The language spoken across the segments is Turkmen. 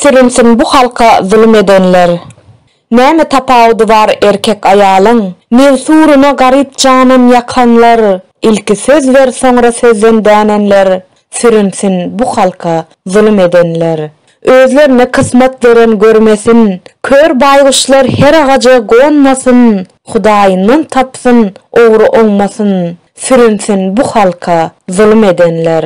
Sürünsin bu halka zulum edenler. Näme tapawudy bar erkek aýalyň. Nir suruna garyp janyn ýakanlar. Ilki söz ber soňra sözden dänenler. Sürünsin bu halka zulum edenler. Özlerine kysmat beren görmesin. Kör baýguşlar her agaja gonmasyn. Hudaýyndan tapsyn ogry oňmasyn. Sürünsin bu halka zulum edenler.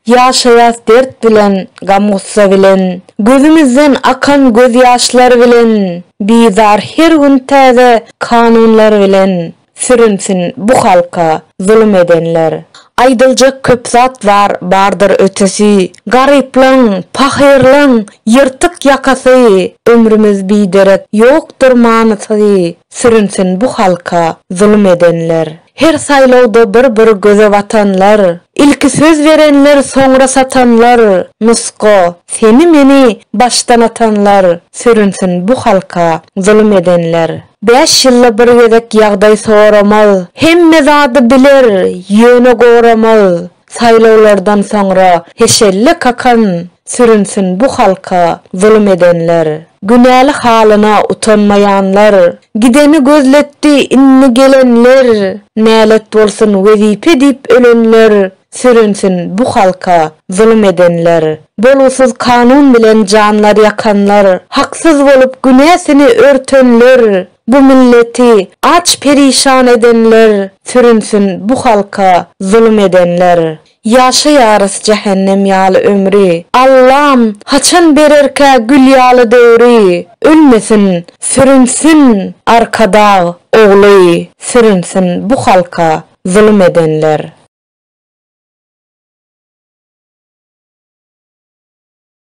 Ýaşaýas dert bilen, gam-gussa bilen, Gözümizden akan gözýaşlar bilen, Bizar her gün täze kanunlar bilen, Sürünsin bu halka zulum edenler. Aýdyljak köp zat bar, bardyr ötesi, Garyplaň, pahyrlaň, ýyrtyk ýakasy, Ömrümiz biderek, ýokdur manysy, Sürünsin bu halka zulum edenler. Her saýlawda bir-bir göze batanlar, Ilki söz berenler, soňra satanlar, Nusga, seni-meni başdan atanlar, Sürünsin bu halka zulum edenler. Bäş ýylda bir gezek ýagdaý soramaz, Hemme zady biler, ýöne goramaz, Saýlawlardan soňra heşelle kakan sürünsin bu halka zulum edenler. Günäli halyna utanmaýanlar. Gideni gözletdi indi gelenler. Nälet bolsun wezipe diýip ölenler. Sürünsin bu halka zulum edenler. Bolgusyz kanun bilen janlar ýakanlar. Haksyz bolup günäsini örtenler. Bu milleti aç perişan edenler sürünsin bu halka zulum edenler Ýaşaýarys jähennem ýaly ömri Allam haçan bererkä gül ýaly döwri Ölmesin sürünsin arkadag ogly sürünsin bu halka zulum edenler.